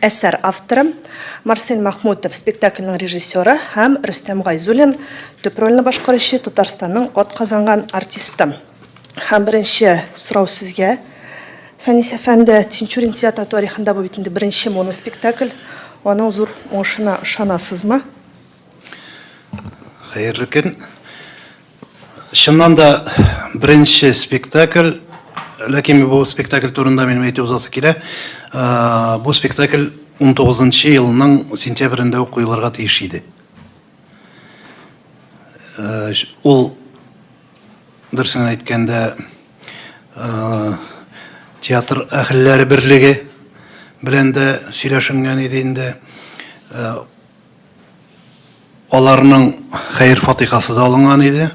Әсәр авторы, Марсель Мәхмүтов, спектакльнең режиссеры, һәм Рөстәм Гайзуллин, төп рольне башкаручы, Татарстанның атказанган артисты. Һәм беренче сорау сезгә, Фәнис әфәнде, Тинчурин театры тарихында бу бит инде беренче моноспектакль, аның зур уңышына ышанасызмы? Хәерле көн. Чыннан да беренче спектакль, ләкин бу спектакль турында минем әйтеп узасы килә. Бу спектакль 19 елның сентябрендә үк куелырга тиеш иде. Ул дөресен әйткәндә театр әһелләре берлеге белән дә сөйләшенгән иде инде. Аларның хәер-фатихасы да алынган иде.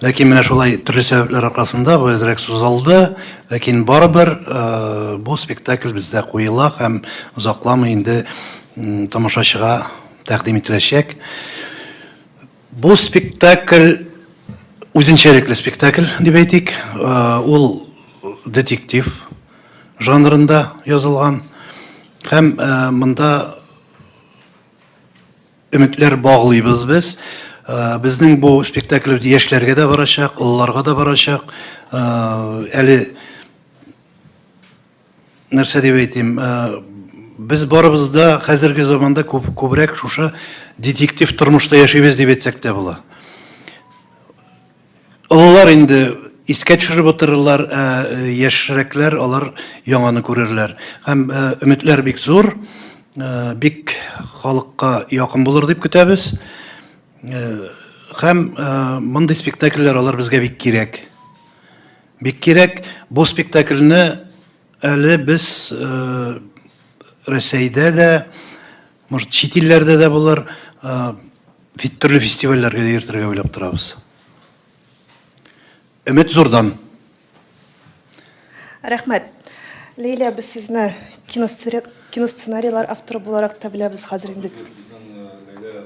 Ләкин менә шулай төрле сәбәпләр аркасында бу әзрәк сузылды. Ләкин барыбер э, бу спектакль бездә куела һәм озакламый инде тамашачыга тәкъдим ителәчәк. Бу спектакль үзенчәлекле спектакль дип әйтик. Э, ул детектив жанрында язылган һәм э, монда Өметләр баглыйбыз без. Безнең бу спектакль яшьләргә дә барачак, олыларга да барачак. Әле нәрсә дип әйтим, без барыбыз да хәзерге заманда күбрәк шушы детектив тормышта яшибез дип әйтсәк тә була. Олылар инде искә төшереп утырырлар, ә яшьрәкләр алар яңаны күрерләр. Һәм өметләр бик зур, бик халыкка якын булыр дип көтәбез. Һәм мондый спектакльләр алар безгә бик кирәк. Бик кирәк. Бу спектакльне әле без Рәсәйдә дә, Может, чит илләрдә дә болар төрле фестивальләргә дә йөртергә уйлап торабыз. Өмет зурдан. Рәхмәт. Лилия, без сезне киносценарийлар авторы буларак та беләбез хәзер инде. Сезнең Лилия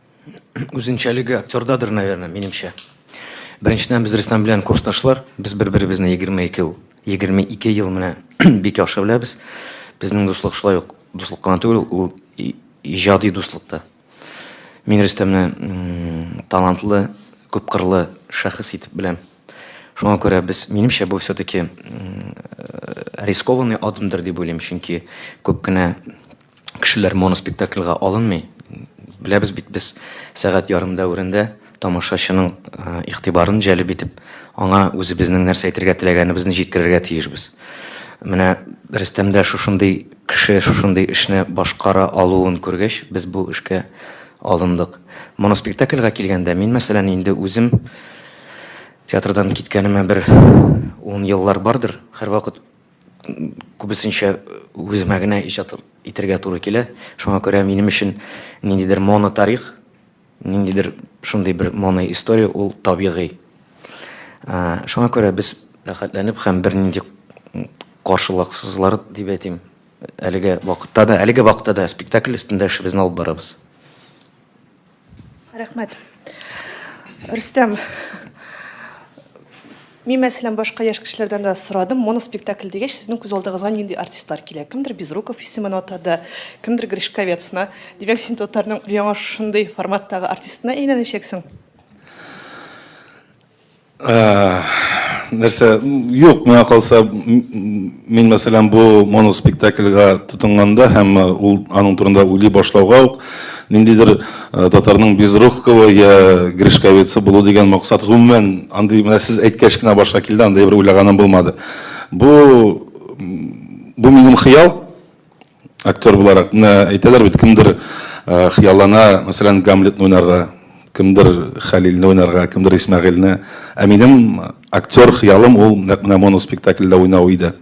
Үзенчәлеге актердадыр, наверное, минемчә. Беренчедән, без Рөстәм белән курсташлар. Без бер-беребезне 22 ел, 22 ел менә бик яхшы беләбез. Безнең дуслык шулай ук дуслык кына түгел, ул иҗади дуслык та. Мин Рөстәмне талантлы, күпкырлы шәхес итеп беләм. Шуңа күрә без, минемчә, бу все-таки рискованный адымдыр дип уйлыйм, чөнки күп кенә Кешеләр моноспектакльга алынмый. Беләбез бит без, сәгать ярым дәверендә тамашачының игътибарын җәлеп итеп, аңа үзебезнең нәрсә әйтергә теләгәнебезне җиткерергә тиешбез. Менә Рөстәмдә шушындый кеше шушындый эшне башкара алуын күргәч, без бу эшкә алындык. Моноспектакльга килгәндә, мин, мәсәлән, инде үзем театрдан киткәнемә бер ун еллар бардыр, һәрвакыт күбесенчә үземә генә иҗат итәргә туры килә. Шуңа күрә минем өчен ниндидер монотарих, ниндидер шундый бер моноистория ул табигый. Шуңа күрә без рәхәтләнеп һәм бернинди каршылыксызлар дип әйтим, әлеге вакытта да, әлеге вакытта да спектакль өстендә эшебезне алып барабыз. Рәхмәт. Рөстәм, мин мәсәлән башка яшь кешеләрдән дә сорадым, моноспектакль дигәч, сезнең күз алдыгызга нинди артистлар килә? Кемдер Безруков исемен атады, кемдер Гришковецны. Димәк, син татарның яңа шундый форматтагы артистына әйләнәчәксең? нәрсә юк миңа калса мин мәсәлән бу моноспектакльгә тотынганда һәм ул аның турында уйлый башлауга ук ниндидер татарның безрукова я гришковецы булу дигән максат гомумән андый менә сез әйткәч кенә башка килде андай бер уйлаганым булмады бу бу минем хыял Актер буларак, менә әйтәләр бит, кемдер хыяллана, мәсәлән, Гамлетны уйнарга, кемдер Хәлилне уйнарга, кемдер Исмәгыйльне. Ә минем актер хыялым ул нәкъ менә моноспектакльдә уйнау иде.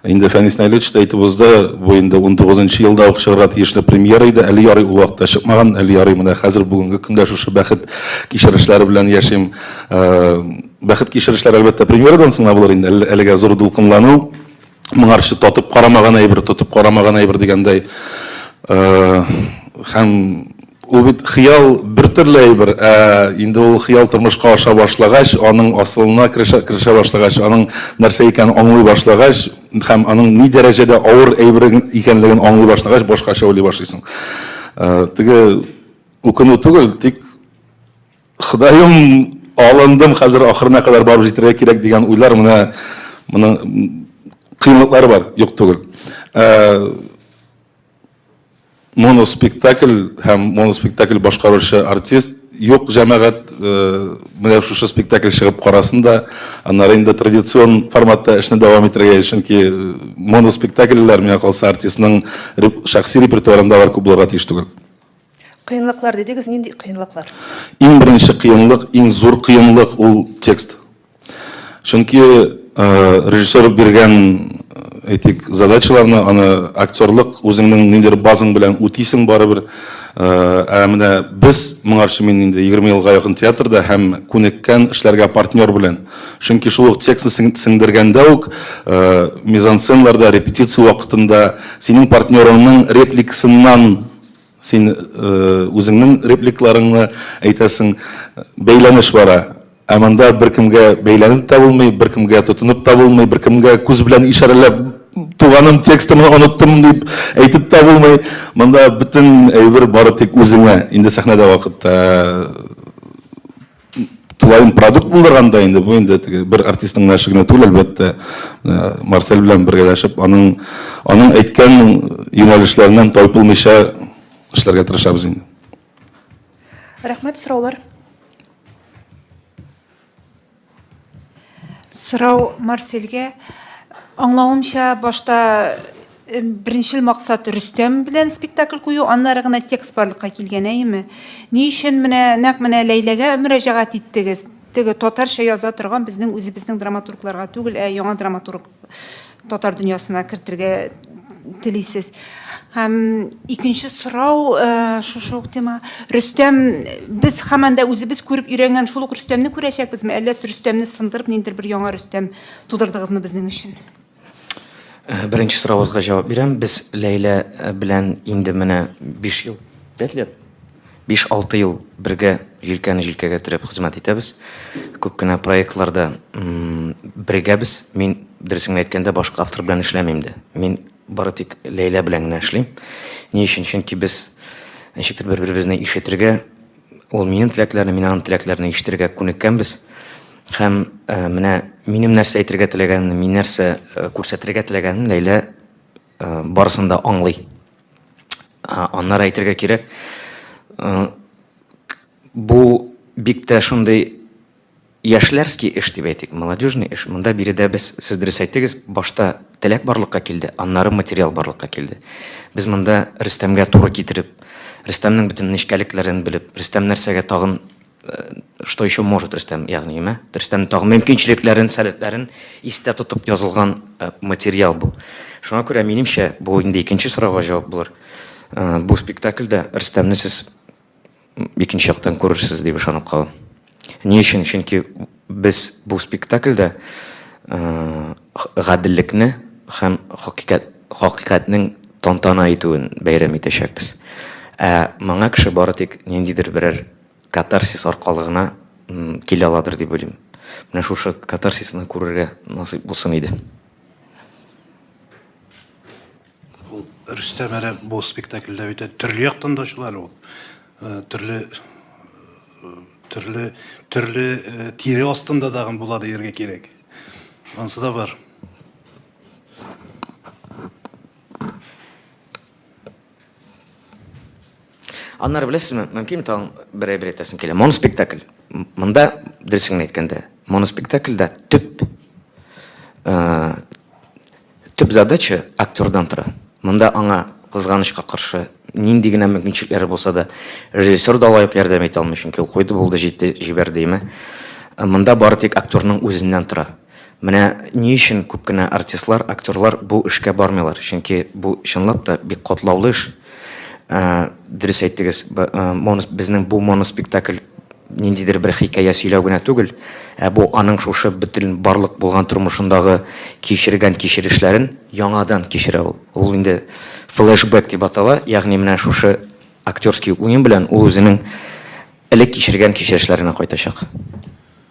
Инде Фәнис Наилевич та әйтеп узды, бу инде 19 нчы елда ук чыгарга тиешле премьера иде. Әле ярый ул вакытта чыкмаган, әле ярый менә хәзер бүгенге көндә шушы бәхет кичерешләре белән яшим. Бәхет кичерешләре, әлбәттә, премьерадан соң гына булыр инде, әлегә зур дулкынлану. моңарчы татып карамаган әйбер, тотып карамаган әйбер дигәндәй. Һәм ул бит хыял бер төрле әйбер, ә инде ул хыял тормышка аша башлагач, аның асылына керешә, керешә башлагач, аның нәрсә икәнен аңлый башлагач, һәм аның ни дәрәҗәдә авыр әйбер икәнлеген аңлый башлагач, башкача уйлый башлыйсың. Теге үкенү түгел, тик Ходаем, алындым, хәзер ахырына кадәр барып җитәргә кирәк дигән уйлар менә моның кыенлыклары бар, юк түгел. Моноспектакль һәм моноспектакль башкаручы артист юк җәмәгать менә шушы спектакль чыгып карасын да, аннары инде традицион форматта эшне дәвам итәргә, чөнки моноспектакльләр, миңа калса, артистның шәхси репертуарында алар күп булырга тиеш түгел. Кыенлыклар дидегез, нинди кыенлыклар? Иң беренче кыенлык, иң зур кыенлык ул текст. Чөнки режиссер биргән әйтик, задачаларны, аны актерлык үзеңнең ниндидер базың белән үтисең барыбер. Ә менә без моңарчы мин инде 20 елга якын театрда һәм күнеккән эшләргә партнер белән. Чөнки шул ук текстны сеңдергәндә үк, мизансценларда, репетиция вакытында синең партнерыңның репликасыннан син үзеңнең репликларыңны әйтәсең, бәйләнеш бара. Ә монда беркемгә бәйләнеп тә булмый, беркемгә тотынып та булмый, беркемгә күз белән ишарәләп, туганым, текстымны оныттым, дип әйтеп тә булмый. Монда бөтен әйбер бары тик үзеңә, инде сәхнәдә вакытта. тулаем продукт булдырганда инде бу инде теге бер артистның гына эше генә түгел әлбәттә марсель белән бергәләшеп аның аның әйткән юнәлешләреннән тайпылмыйча эшләргә тырышабыз инде рәхмәт сораулар сорау марсельгә аңлавымча башта Беренчел максат Рөстәм белән спектакль кую, аннары гына текст барлыкка килгән, әйеме? Ни өчен менә нәкъ менә Ләйләгә мөрәҗәгать иттегез? Теге татарча яза торган безнең үзебезнең драматургларга түгел, ә яңа драматург татар дөньясына кертергә телисез. Һәм икенче сорау шушы ук тема. Рөстәм, без һаман да үзебез күреп өйрәнгән шул ук Рөстәмне күрәчәкбезме, әллә Рөстәмне сындырып ниндидер бер яңа Рөстәм тудырдыгызмы безнең өчен? Э, беренче сорагызга җавап бирәм. Без Ләйлә э, белән инде менә 5 ел, 5 лет, 5-6 ел бергә җилкәне җилкәгә терәп хезмәт итәбез. Күп кенә проектларда бергәбез. Мин дөресен әйткәндә башка автор белән эшләмим дә. Мин бары тик Ләйлә белән генә эшлим. Ни өчен? Чөнки без ничектер бер-беребезне ишетергә, Ул минем теләкләрне, мин аның теләкләрен ишетергә күнеккәнбез. Һәм ә, менә минем нәрсә әйтергә теләгәнне, мин нәрсә э, күрсәтергә теләгәнен Ләйлә э, барысын да аңлый. Аннары әйтергә кирәк, э, бу бик тә шундый Яшьләрский эш дип әйтик, молодежный эш. Монда биредә без, сез дөрес әйттегез, башта теләк барлыкка килде, аннары материал барлыкка килде. Без монда Рөстәмгә туры китереп, Рөстәмнең бөтен нечкәлекләрен белеп, Рөстәм нәрсәгә тагын что еще может Рөстәм, ягъни, мә, Рөстәмнең тагын мөмкинчелекләрен, сәләтләрен истә тотып язылган материал бу. Шуңа күрә, минемчә, бу инде икенче сорауга җавап булыр. Бу спектакльдә Рөстәмне сез икенче яктан күрерсез дип ышанып калам. Ни өчен? Чөнки без бу спектакльдә гаделлекне һәм хакыйкать хакыйкатьнең тантана итүен бәйрәм итәчәкбез. Ә моңа кеше бары тик ниндидер берәр катарсис аркылы гына килә аладыр дип уйлыйм. Менә шушы катарсисны күрергә насыйп булсын иде. Ул Рөстәм әле бу спектакльдә бит төрле яктан да чыга әле ул. Э, төрле э, төрле төрле э, тире астында дагын була дияргә кирәк. Ансы да бар. Аннары беләсезме, мөмкин тагын бер әйбер әйтәсем килә. Моноспектакль. Монда дөресен әйткәндә, моноспектакльдә төп э, Төп задача актердан тора. Монда аңа, кызганычка каршы, нинди генә мөмкинчелекләре булса да, режиссер да лаек ярдәм итә алмый, чөнки ул куйды, булды, җитте, җибәр диеме. Монда бары тик актерның үзеннән тора. Менә ни өчен күп кенә артистлар, актерлар бу эшкә бармыйлар, чөнки бу, чынлап та, бик катлаулы эш. Ә, дөрес әйттегез, монос, безнең бу моноспектакль ниндидер бер хикәя сөйләү генә түгел, ә бу аның шушы бөтен барлык булган тормышындагы кичергән кичерешләрен яңадан кичерә ул. Ул инде флешбэк дип атала, ягъни менә шушы актерский уен белән ул үзенең элек кичергән кичерешләренә кайтачак.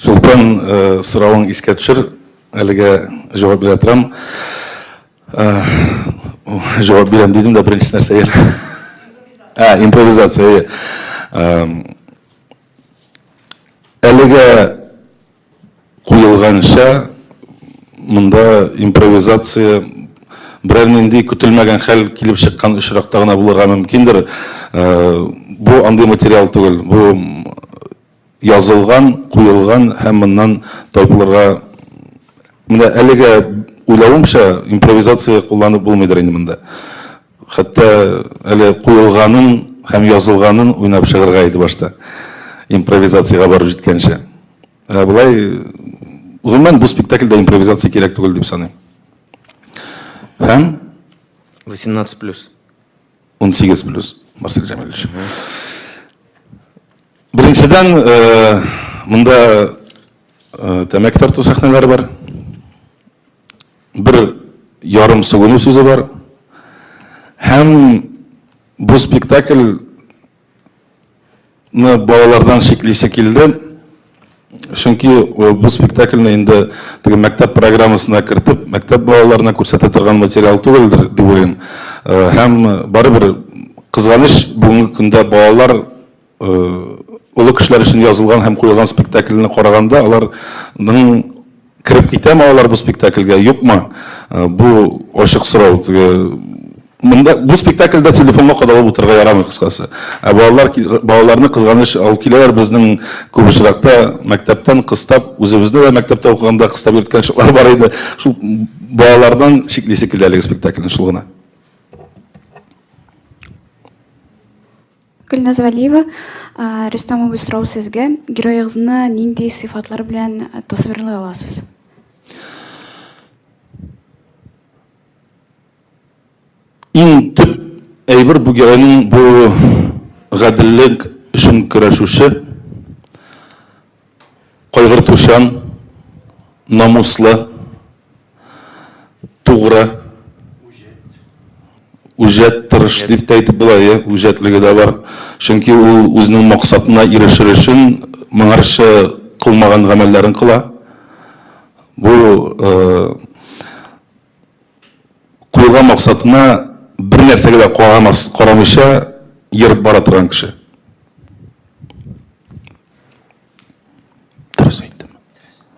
Чулпан, соравың искә төшер, әлегә җавап бирә торам. Җавап бирәм дидем дә, беренче нәрсә ел. Импровизация. Импровизация. Әлегә куелганча, монда импровизация берәр нинди көтелмәгән хәл килеп чыккан очракта гына булырга мөмкиндер. Бу андый материал түгел. Бу Язылган, куелган һәм моннан тайпылырга Менә әлегә уйлавымча, импровизация кулланып булмыйдыр инде монда. Хәтта әле куелганын һәм язылганын уйнап чыгырга иде башта. Импровизациягә барып җиткәнче. Ә болай, гомумән, бу спектакльдә импровизация кирәк түгел дип саныйм. Һәм. 18 плюс. 18 плюс, Марсель Джамилевич. Беренчедән, э, монда э, тәмәке тарту сәхнәләре бар. Бер ярым сүгенү сүзе бар. Һәм бу спектакль ны балалардан чиклисе килде. Чөнки э, бу спектакльне инде теге мәктәп программасына кертеп, мәктәп балаларына күрсәтә торган материал түгелдер дип уйлыйм. Э, һәм барыбер кызганыч бүгенге көндә балалар э, олы кешеләр өчен язылган һәм куелган спектакльне караганда аларның Кереп китәме алар бу спектакльгә, юкмы? Бу ачык сорау. Теге Монда бу спектакльдә телефонга кадалып утырырга ярамый кыскасы. Ә балалар балаларны кызганыч алып киләләр безнең күп очракта мәктәптән кыстап, үзебездә дә мәктәптә укыганда кыстап йөрткән чаклар бар иде. Шул балалардан чиклисе килде әлеге спектакльне шул гына. Гөлназ Вәлиева, Рөстәм абый, сорау сезгә. Героегызны нинди сыйфатлар белән тасвирлый аласыз? Иң төп әйбер бу геройның бу гаделлек өчен көрәшүче. Кайгыртучан, намуслы, тугры, үҗәт, тырыш дип тә әйтеп була, иә, үҗәтлеге дә бар. Чөнки ул үзенең максатына ирешер өчен моңарчы кылмаган гамәлләрен кыла. Бу Куелган максатына бер нәрсәгә дә карамас, карамыйча ерып бара торган кеше. Дөрес әйттем.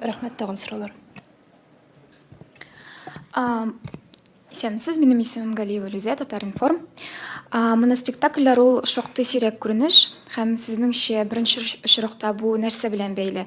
Рәхмәт тагын сораулар. Исәнмесез, минем исемем Галиева Люзә, Татаринформ. Моноспектакльләр ул шактый сирәк күренеш һәм сезнеңчә беренче очракта бу нәрсә белән бәйле?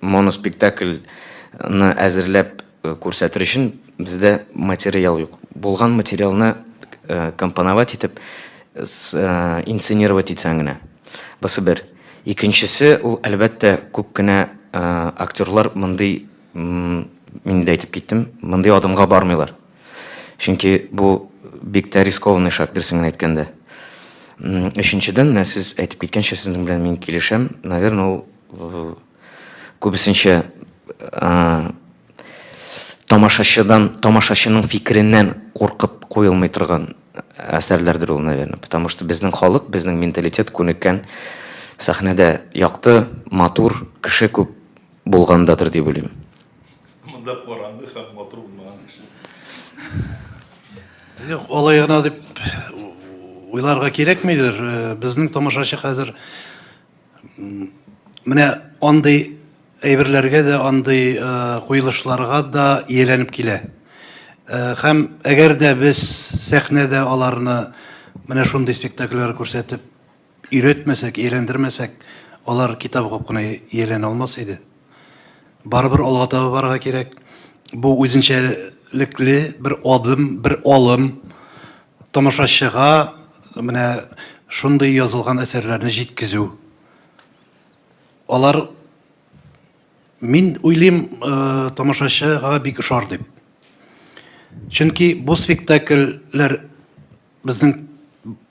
Моноспектакль ны әзерләп күрсәтер өчен бездә материал юк. Булган материалны компоновать итеп, инсценировать итсәң генә. Бусы бер. Икенчесе, ул әлбәттә күп кенә актерлар мондый, мин инде әйтеп киттем, мондый адымга бармыйлар. Чөнки бу бик тә рискованный шаг, дөресен генә әйткәндә. Өченчедән, менә сез әйтеп киткәнчә, сезнең белән мин килешәм. Наверное, ул э, күбесенчә э, тамашачыдан, тамашачының фикереннән куркып куелмый торган әсәрләрдер ул, наверное. Потому что безнең халык, безнең менталитет күнеккән сәхнәдә якты, матур, кеше күп булгандадыр дип уйлыйм. Монда караңгы һәм матур булмаган кеше. Юк, алай гына дип уйларга кирәкмидер. Э, безнең тамашачы хәзер менә андый әйберләргә дә, андый э, куелышларга да ияләнеп килә. Э, һәм әгәр дә без сәхнәдә аларны менә шундый спектакльләр күрсәтеп Өйрәтмәсәк, ияләндермәсәк, алар китап укып кына ияләнә алмас иде. Барыбер алга таба барырга кирәк. Бу үзенчәлекле бер адым, бер алым. Тамашачыга менә шундый язылган әсәрләрне җиткезү. Алар, мин уйлыйм, тамашачыга бик ошар дип. Чөнки бу спектакльләр безнең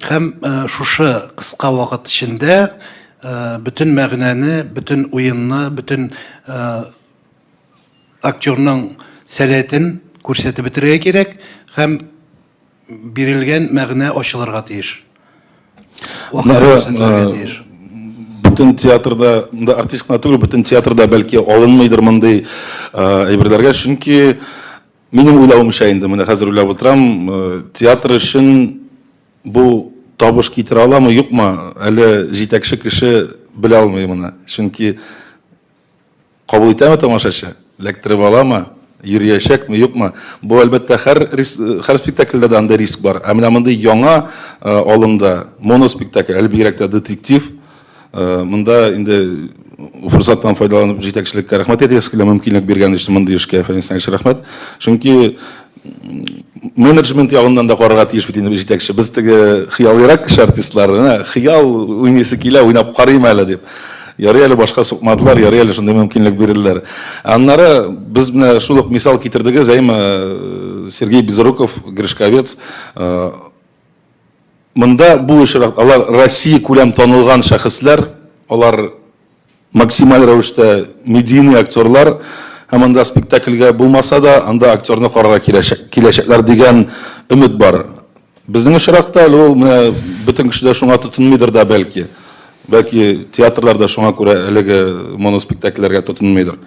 Һәм шушы кыска вакыт эчендә бөтен мәгънәне, бөтен уенны, бөтен актерның сәләтен күрсәтеп бетерергә кирәк һәм бирелгән мәгънә ачылырга тиеш. Бөтен театрда, монда артист кына түгел, бөтен театрда бәлки алынмыйдыр мондый әйберләргә, чөнки Минем уйлавымча инде, менә хәзер уйлап утырам, э, театр өчен бу табыш китерә аламы, юкмы, әле җитәкче кеше белә алмый моны. Чөнки кабул итәме тамашачы, эләктереп аламы, йөриячәкме, юкмы? Бу әлбәттә һәр һәр спектакльдә дә андый риск бар. Ә менә мондый яңа э, алымда моноспектакль, әле бигрәк тә детектив, Э, мында инде форсаттан файдаланып җитәкчелеккә рәхмәт әйтәбез килә мөмкинлек биргән өчен мондый эшкә фәнисән өчен рәхмәт чөнки менеджмент ягыннан да карарга тиеш бит инде җитәкче без теге хыялыйрак кеше артистлар менә хыял уйныйсы килә уйнап карыйм әле дип ярый әле башка сукмадылар ярый әле шундый мөмкинлек бирделәр аннары без менә шул ук мисал китердегез әйме э, сергей безруков гришковец э, Монда бу очрак, алар Россия күләм танылган шәхесләр, алар максималь рәвештә медийный актерлар, һәм анда спектакльгә булмаса да, анда актерны карарга киләчәк, киләчәкләр дигән өмет бар. Безнең очракта әле ул, менә бөтен кеше дә шуңа тотынмыйдыр да бәлки. Бәлки театрлар да шуңа күрә әлеге моноспектакльләргә тотынмыйдыр.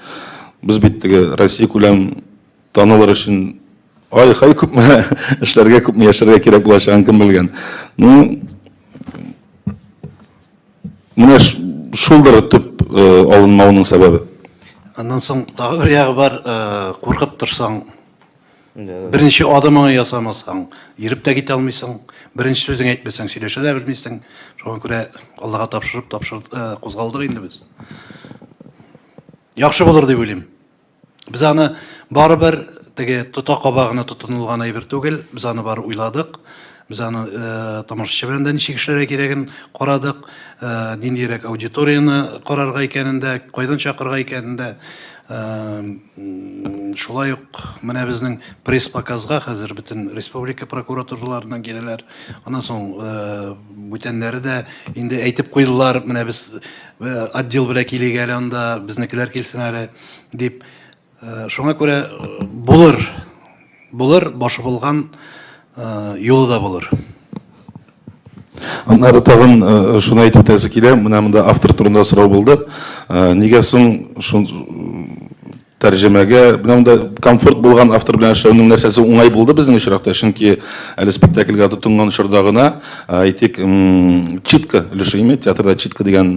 Без бит теге Россия күләм Танылыр өчен ай-хай күпме эшләргә, күпме яшәргә кирәк булачагын кем белгән. Ну, менә шулдыр төп э, алынмауның сәбәбе. Аннан соң тагы бер ягы бар, э, куркып торсаң, Беренче адымыңны ясамасаң, йөреп тә китә алмыйсың. Беренче сүзең әйтмәсәң, сөйләшә дә белмисең. Шуңа күрә Аллага тапшырып, тапшырып э, кузгалдык инде без. Яхшы булыр дип уйлыйм. Без аны барыбер теге тотакаба гына тотынылган әйбер түгел, без аны бар уйладык. Без аны э, тамашачы белән дә ничек эшләргә кирәген карадык, э, ниндирәк аудиторияне карарга икәнен дә, кайдан чакырга икәнен дә. Э, шулай ук менә безнең пресс-показга хәзер бөтен республика прокуратураларыннан киләләр. Аннан соң э, бүтәннәре дә инде әйтеп куйдылар, менә без Отдел белән килик әле анда, безнекеләр килсен әле, дип. Шуңа күрә булыр, булыр, башы булган юлы да булыр. Аннары тагын шуны әйтеп үтәсе килә, менә монда автор турында сорау булды. Нигә соң тәрҗемәгә менә монда комфорт булган автор белән эшләүнең нәрсәсе уңай булды безнең очракта чөнки әле спектакльгә тотынган чорда гына әйтик читка өлеше ими театрда читка дигән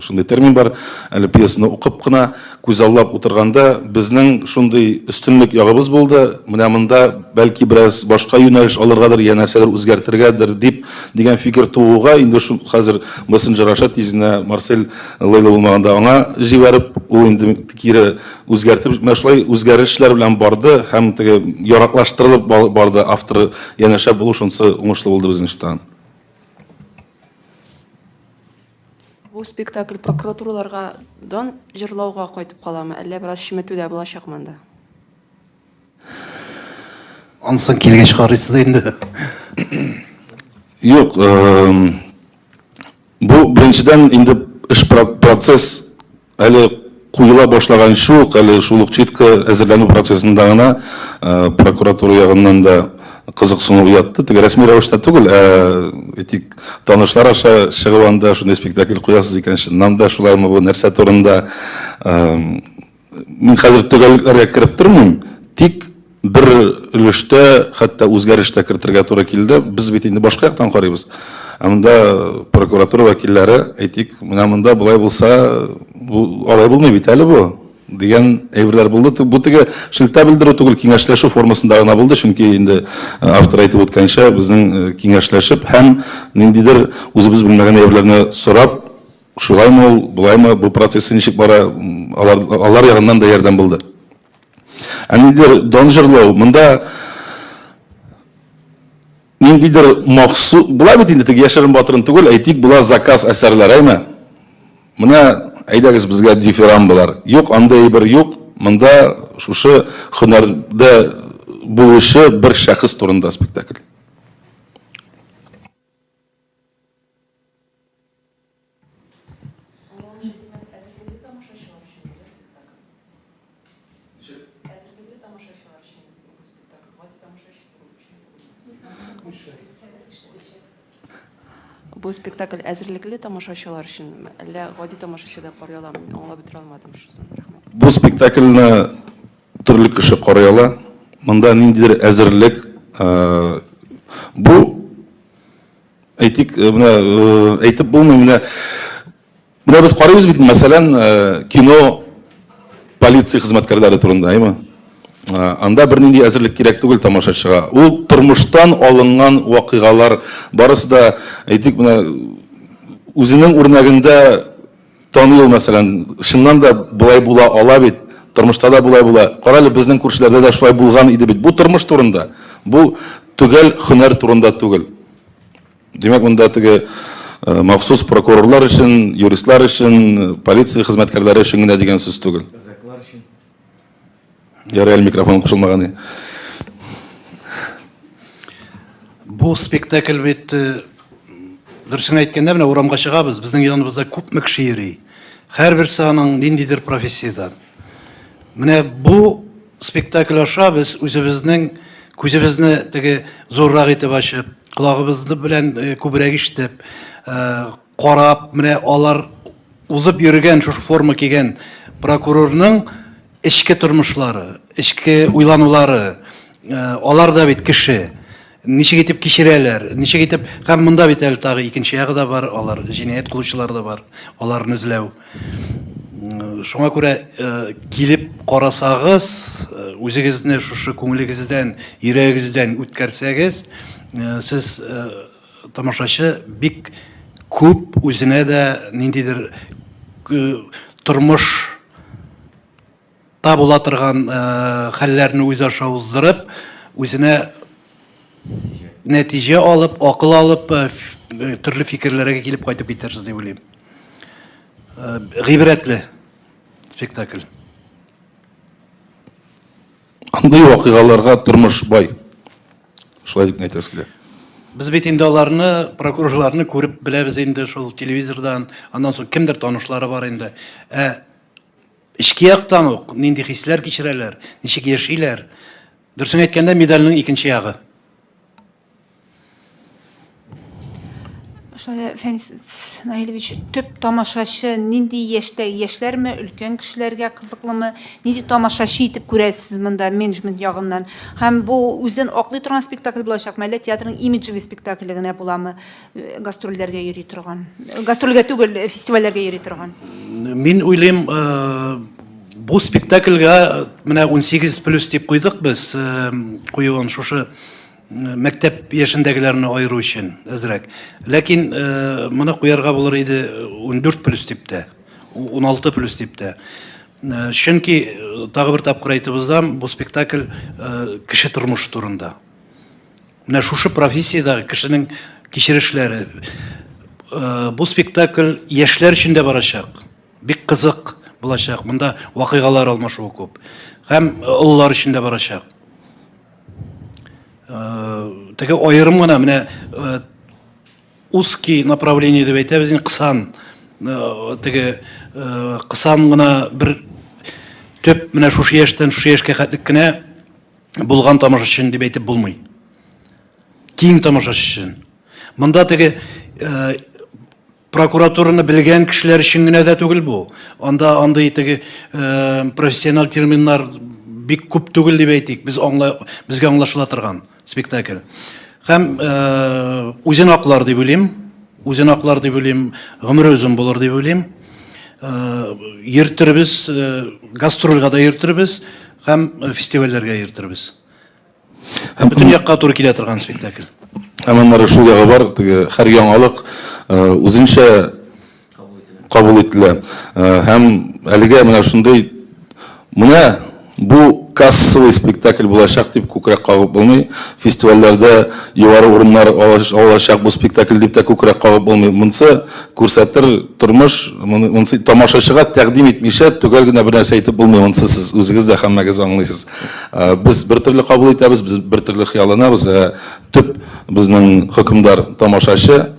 шундый термин бар әле пьесаны укып кына күзаллап утырганда безнең шундый өстенлек ягыбыз булды менә монда бәлки бераз башка юнәлеш алыргадыр я нәрсәдер үзгәртергәдер дип дигән фикер тууга инде шул хәзер мессенджер аша тиз генә марсель лейлы булмаганда аңа җибәреп ул инде кире үзгәртеп, менә шулай үзгәрешләр белән барды һәм теге яраклаштырылып барды авторы янәшә булу шунысы уңышлы булды безнең чыктан. Бу спектакль прокуратураларга дан җырлауга кайтып каламы, әллә бераз чиметү дә булачак монда? Ансын килгәч карыйсыз инде. Юк, бу беренчедән инде эш процесс Әле куела башлаган шул ук, әле шул ук читка әзерләнү процессында гына прокуратура ягыннан да кызыксыну уятты. Теге рәсми рәвештә түгел, ә әйтик, танышлар аша чыгып анда шундый спектакль куясыз икән, чыннан да шулаймы бу, нәрсә турында? Мин хәзер төгәллекләргә кереп тормыйм, тик Бер өлештә хәтта үзгәреш тә кертергә туры килде. Без бит инде башка яктан карыйбыз. Ә монда прокуратура вәкилләре, әйтик, менә монда болай булса, бу алай булмый бит әле бу дигән әйберләр булды. Бу теге шелтә белдерү түгел, киңәшләшү формасында гына булды, чөнки инде автор әйтеп үткәнчә, безнең киңәшләшеп һәм ниндидер үзебез белмәгән әйберләрне сорап, шулаймы ул, болаймы, бу процессы ничек бара, алар ягыннан да ярдәм булды. Ә ниндидер дан җырлау, монда ниндидер махсу... Була бит инде теге яшерен батырын түгел, әйтик, була заказ әсәрләр, әйме? Менә әйдәгез безгә дифирамбалар. Юк, андый әйбер юк. Монда шушы һөнәрдә булучы бер шәхес турында спектакль. Бу спектакль әзерлекле тамашачылар өчен, әллә гади тамашачы да карый аламы? Мин аңлап бетерә алмадым шуны. Рәхмәт. Бу спектакльне төрле кеше карый ала. Монда ниндидер әзерлек, бу Әйтик, менә әйтеп булмый, менә менә без карыйбыз бит, мәсәлән, кино полиция хезмәткәрләре турында, әйме? Анда бернинди әзерлек кирәк түгел тамашачыга. Ул тормыштан алынган вакыйгалар, барысы да, әйтик, менә үзенең үрнәгендә Танил, мәсәлән, чыннан да болай була ала бит, тормышта да болай була. Карале, безнең күршеләрдә дә шулай булган иде бит. Бу тормыш турында, бу төгәл хөнәр турында түгел. Димәк, монда теге э, махсус прокурорлар өчен, юристлар өчен, полиция хезмәткәрләре өчен генә дигән сүз түгел. Ярый әле микрофон кушылмаган иде. Бу спектакль бит э, дөресен әйткәндә менә урамга чыгабыз, безнең яныбызда күпме кеше йөри. Һәрберсе аның ниндидер профессиядән. Менә бу спектакль аша без үзебезнең күзебезне теге зуррак итеп ачып, колагыбызны белән э, күбрәк ишетеп, э, Карап, менә алар узып йөргән, шушы форма кигән прокурорның эчке тормышлары, эчке уйланулары, алар да бит кеше. Ничек итеп кичерәләр, ничек итеп, һәм монда бит әле тагы икенче ягы да бар, алар җинаять кылучылар да бар, аларны эзләү. Шуңа күрә килеп карасагыз, үзегезне шушы күңелегездән, йөрәгегездән үткәрсәгез, сез Тамашачы бик күп үзенә дә ниндидер тормыш та була торган хәлләрне үз аша уздырып, үзенә нәтиҗә алып, акыл алып, төрле фикерләргә килеп кайтып китәрсез дип уйлыйм. Гыйбрәтле спектакль. Андый вакыйгаларга тормыш бай. Шулай дип әйтәсе килә. Без бит инде аларны, прокурорларны күреп беләбез инде шул телевизордан, аннан соң кемдер танышлары бар инде. Ә эчке яктан ук нинди хисләр кичерәләр, ничек яшиләр? Дөресен әйткәндә, медальнең икенче ягы. Фәнис Наилевич, төп тамашачы нинди яшьтә, яшьләрме, өлкән кешеләргә кызыклымы, нинди тамашачы итеп күрәсез монда менеджмент ягыннан? Һәм бу үзен аклый торган спектакль булачакмы, әллә театрның имиджевый спектакле генә буламы, э, гастрольләргә йөри торган? Э, гастрольгә түгел, э, фестивальләргә йөри торган. Мин уйлыйм, бу спектакльгә менә 18 плюс дип куйдык без, куюын шушы Мәктәп яшендәгеләрне аеру өчен әзрәк. Ләкин моны куярга булыр иде 14 плюс дип тә, 16 плюс дип тә. Чөнки тагы бер тапкыр әйтеп узам, бу спектакль кеше тормышы турында. Менә шушы профессиядәге кешенең кичерешләре. Бу спектакль яшьләр өчен дә барачак. Бик кызык булачак. Монда вакыйгалар алмашуы күп. Һәм олылар өчен дә барачак. Теге аерым гына менә узкий направление дип әйтәбез инде кысан теге кысан гына бер төп менә шушы яшьтән шушы яшькә хәтлек кенә булган тамашачын дип әйтеп булмый. Киң тамашачы өчен. Монда теге Прокуратураны белгән кешеләр өчен генә дә түгел бу. Анда андый теге э, профессиональ терминнар бик күп түгел дип әйтик. Без аңла, безгә аңлашыла торган спектакль. Һәм э, үзен аклар дип уйлыйм. Үзен аклар дип уйлыйм. Гомере озын булыр дип уйлыйм. Э, йөртербез, э, гастрольгә дә йөртербез һәм фестивальләргә йөртербез. Һәм бөтен якка туры килә торган спектакль. Һәм аннары шул ягы бар, теге һәр яңалык үзенчә кабул ителә. Һәм әлегә менә шундый менә бу кассовый спектакль булачак дип күкрәк кагып булмый. Фестивальләрдә югары урыннар алачак бу спектакль дип тә күкрәк кагып булмый. Монсы күрсәтер тормыш, монсы тамашачыга тәкъдим итмичә төгәл генә бернәрсә әйтеп булмый, монсы сез үзегез дә һәммәгез аңлыйсыз. Э, без бер төрле кабул итәбез, без бер төрле хыялланабыз. Э, төп безнең хөкемдар тамашачы.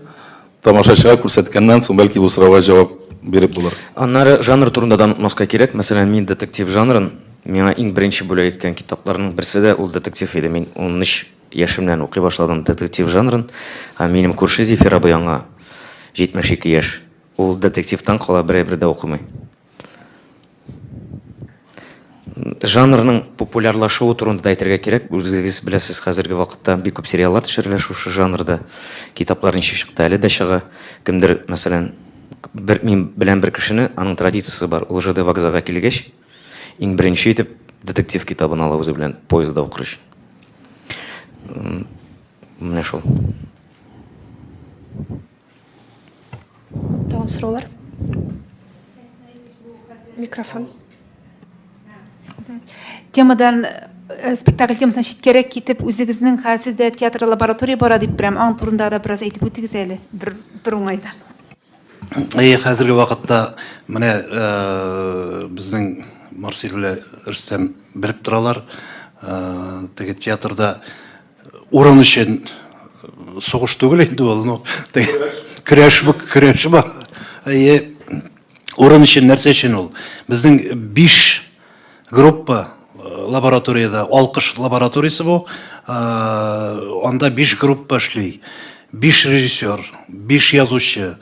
Тамашачыга күрсәткәннән соң бәлки бу сорауга җавап биреп булыр. Аннары жанр турында да онытмаска кирәк. Мәсәлән, мин детектив жанрын миңа иң беренче бүләк иткән китапларның берсе дә ул детектив иде. Мин 13 яшемнән укый башладым детектив жанрын. Һәм минем күрше Зифир абый аңа 72 яшь. Ул детективтан кала берәй бер дә укымый. Жанрның популярлашуы турында да әйтергә кирәк. Үзегез беләсез, хәзерге вакытта бик күп сериаллар төшерелә шушы жанрда. Китаплар ничек чыкты, әле дә чыга. Кемдер, мәсәлән, бер мин беләм бер кешене, аның традициясе бар, ул ЖД вокзалга килгәч, иң беренче итеп детектив китабын ала үзе белән поездда укыр өчен. Менә шул. Тагын сораулар? Микрофон. Темадан э, спектакль темасына читкәрәк китеп, үзегезнең хәзер сездә театр лаборатория бара дип беләм. Аң турында да бераз әйтеп үтегез әле. Бер бер уңайдан. Әйе, хәзерге вакытта менә э, безнең Марсель белән Рөстәм белеп торалар. Э, теге театрда Урын өчен сугыш түгел инде ул, ну, көрәш бу, көрәш бу. Әйе, урын өчен нәрсә өчен ул? Безнең биш группа лабораторияда, алкыш лабораториясе бу, анда биш группа эшли. Биш режиссер, биш язучы,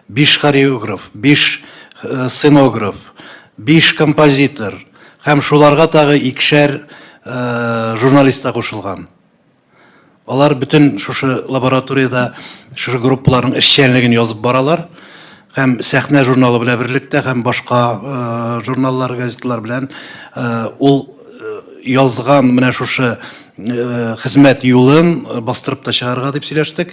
биш хореограф, биш сценограф, биш композитор, Һәм шуларга тагы икешәр журналист та кушылган. Алар бөтен шушы лабораториядә шушы группаларның эшчәнлеген язып баралар. Һәм сәхнә журналы белән берлектә һәм башка журналлар, газеталар белән ул язган менә шушы хезмәт юлын бастырып та чыгарырга дип сөйләштек.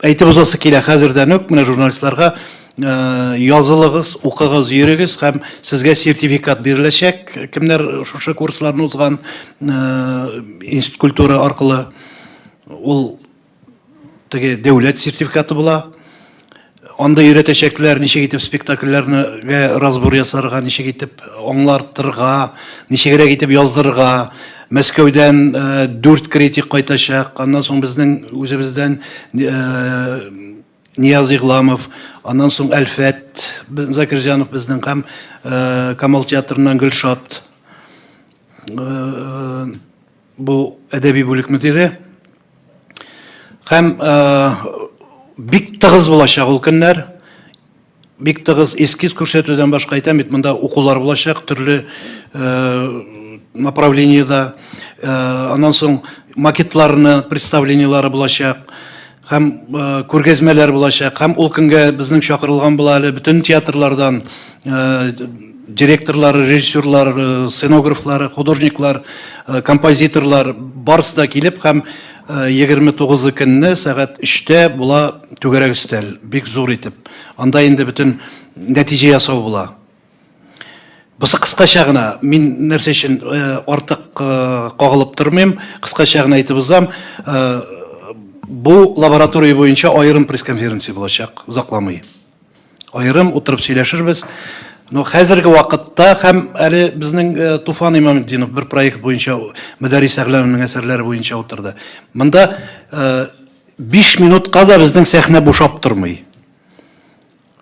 Әйтеп узасы килә хәзердән үк менә журналистларга э, язылыгыз, укыгыз, йөрегез һәм сезгә сертификат биреләчәк. Кемнәр шушы курсларны узган э, институт культура аркылы ул теге дәүләт сертификаты була. Анда өйрәтәчәкләр, ничек итеп спектакльләргә разбор ясарга, ничек итеп аңлартырга, ничегрәк итеп яздырырга. Мәскәүдән э, дүрт критик кайтачак. Аннан соң безнең үзебездән э, Нияз Игламов, аннан соң Әлфәт Закирҗанов безнең һәм э, Камал театрыннан Гөлшат. Бу әдәби бүлек мөдире. Һәм бик тыгыз булачак ул көннәр. Бик тыгыз эскиз күрсәтүдән башка әйтәм бит, монда укулар булачак төрле направлениедә. Аннан соң макетларны, представлениеләре булачак. Һәм күргәзмәләр булачак. Һәм ул көнгә безнең чакырылган була әле бөтен театрлардан Директорлары, режиссерлар, сценографлар, художниклар, композиторлар барысы да килеп һәм 29 көнне сәгать 3-тә була түгәрәк өстәл, бик зур итеп. Анда инде бөтен нәтиҗә ясау була. Бусы кыскача гына, мин нәрсә өчен артык кагылып тормыйм, кыскача гына әйтеп узам. Бу лаборатория буенча аерым пресс-конференция булачак, озакламый. Аерым утырып сөйләшербез. Но хәзерге вакытта һәм әле безнең э, Туфан Имаметдинов бер проект буенча Мөдәрис Әгъләмнең әсәрләре буенча утырды. Монда 5 э, минутка да безнең сәхнә бушап тормый.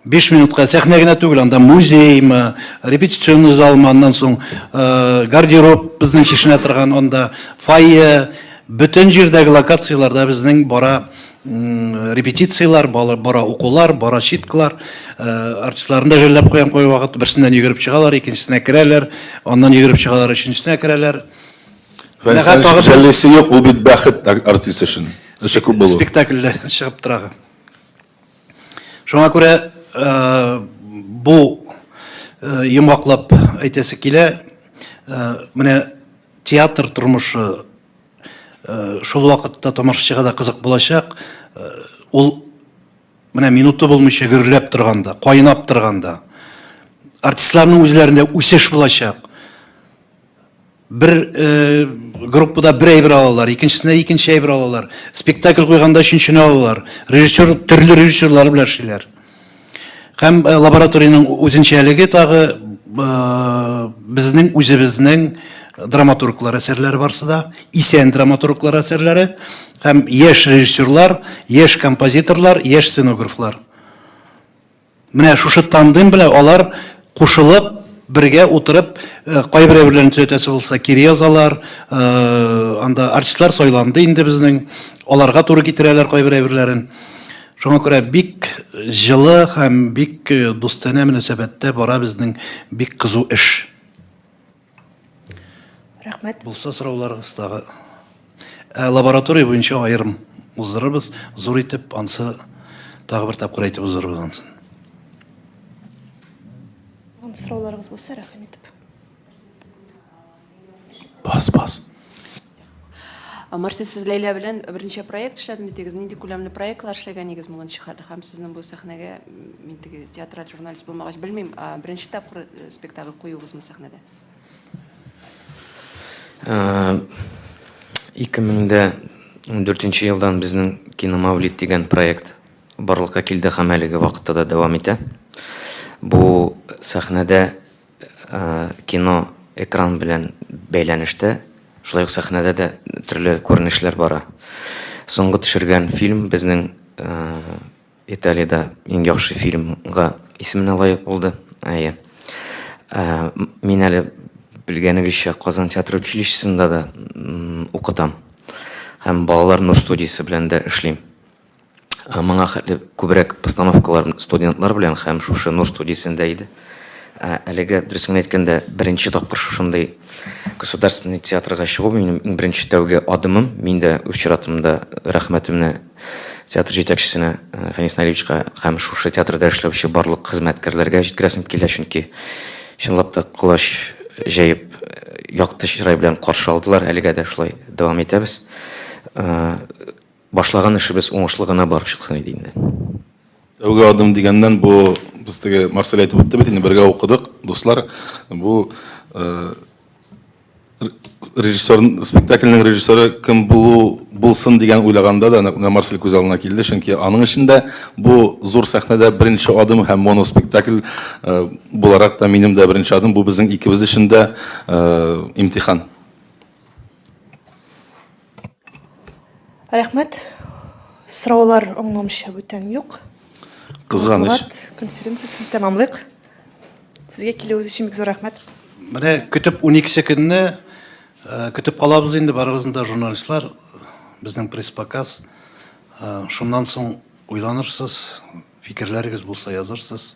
5 минутка сәхнә генә түгел, анда музеймы, репетиционный залмы, аннан соң э, гардероб безнең чишенә торган, анда фойе, бөтен җирдәге локацияләрдә безнең бара репетициялар, бара укулар, бара читклар, э, артистларны да жәлләп куям кой вакыт, берсеннән йөгереп чыгалар, икенчесенә керәләр, аннан йөгереп чыгалар, өченчесенә керәләр. Фәнсән жәллисе юк, ул бит бәхет артист өчен. Эше күп булу. Спектакльдә чыгып тора. Шуңа күрә э, бу э, йомгаклап әйтәсе килә, менә театр тормышы Э, шул вакытта тамашачыга да кызык булачак э, ул менә минуты булмыйча гөрләп торганда кайнап торганда артистларның үзләрендә үсеш булачак бер э, группада бер әйбер алалар икенчесенә икенче әйбер алалар спектакль куйганда өченчене алалар режиссер төрле режиссерлар белән эшлиләр Һәм э, лабораториянең үзенчәлеге тагы безнең үзебезнең драматурглар әсәрләре барсы да, исән драматурглар әсәрләре һәм яшь режиссерлар, яшь композиторлар, яшь сценографлар. Менә шушы тандем белән алар кушылып, бергә утырып, кайберәүләрен төзәтәсе булса, кире язалар, анда артистлар сайланды инде безнең, аларга туры китерәләр кайберәүләрен. Шуңа күрә бик җылы һәм бик дустанә мөнәсәбәттә бара безнең бик кызу эш. Рәхмәт. Булса сорауларыгыздагы. Ә лаборатория буенча аерым уздырырбыз, зур итеп ансы тагы бер тапкыр әйтеп уздырырбыз ансын. Ан сорауларыгыз булса, рәхим итеп. Бас, бас. Марсель, сез Ләйлә белән берничә проект эшләдем дидегез. Нинди күләмле проектлар эшләгәнегез бүгенче хәл һәм сезнең бу сәхнәгә мин теге театраль журналист булмагач белмим, беренче тапкыр спектакль куюыгызмы сәхнәдә? 2004 елдан безнең Киномавлид дигән проект барлыкка килде һәм әлеге вакытта да дәвам итә. Бу сәхнәдә Кино, экран белән бәйләнештә, шулай ук сәхнәдә дә төрле күренешләр бара. Соңгы төшергән фильм безнең Италиядә иң яхшы фильмга исеменә лаек булды. Әйе. Мин әле, белгәнегезчә, Казан театр училищесында да укытам һәм Балалар нур студиясе белән дә эшлим. Моңа хәтле күбрәк постановкалар студентлар белән һәм шушы Нур студиясендә иде. Әлегә, дөресен генә әйткәндә, беренче тапкыр шушындый государственный театрга чыгу минем иң беренче тәүге адымым. Мин дә үз чиратымда рәхмәтемне театр җитәкчесенә Фәнис Наилевичка һәм шушы театрда эшләүче барлык хезмәткәрләргә җиткерәсем килә, чөнки чынлап та колач җәеп, якты чырай белән каршы алдылар. Әлегә дә шулай дәвам итәбез. Башлаган эшебез уңышлы гына барып чыксын иде инде. Тәүге адым дигәннән, бу без теге Марсель әйтеп үтте бит, инде бергә укыдык, дуслар. Бу режиссер, спектакльнең режиссеры кем булу булсын дигән уйлаганда да менә Марсель күз алдына килде, чөнки аның өчен дә бу зур сәхнәдә беренче адым һәм моноспектакль буларак та минем дә беренче адым, бу безнең икебез өчен дә имтихан. Рәхмәт. Сораулар аңламыйча бүтән юк. Кызганыч. Конференциясен тәмамлыйк. Сезгә килүегез өчен бик зур рәхмәт. Менә көтеп 12 көнне э, көтеп калабыз инде барыбызны да журналистлар, безнең пресс-показ. Э, шуннан соң уйланырсыз, фикерләрегез булса язырсыз.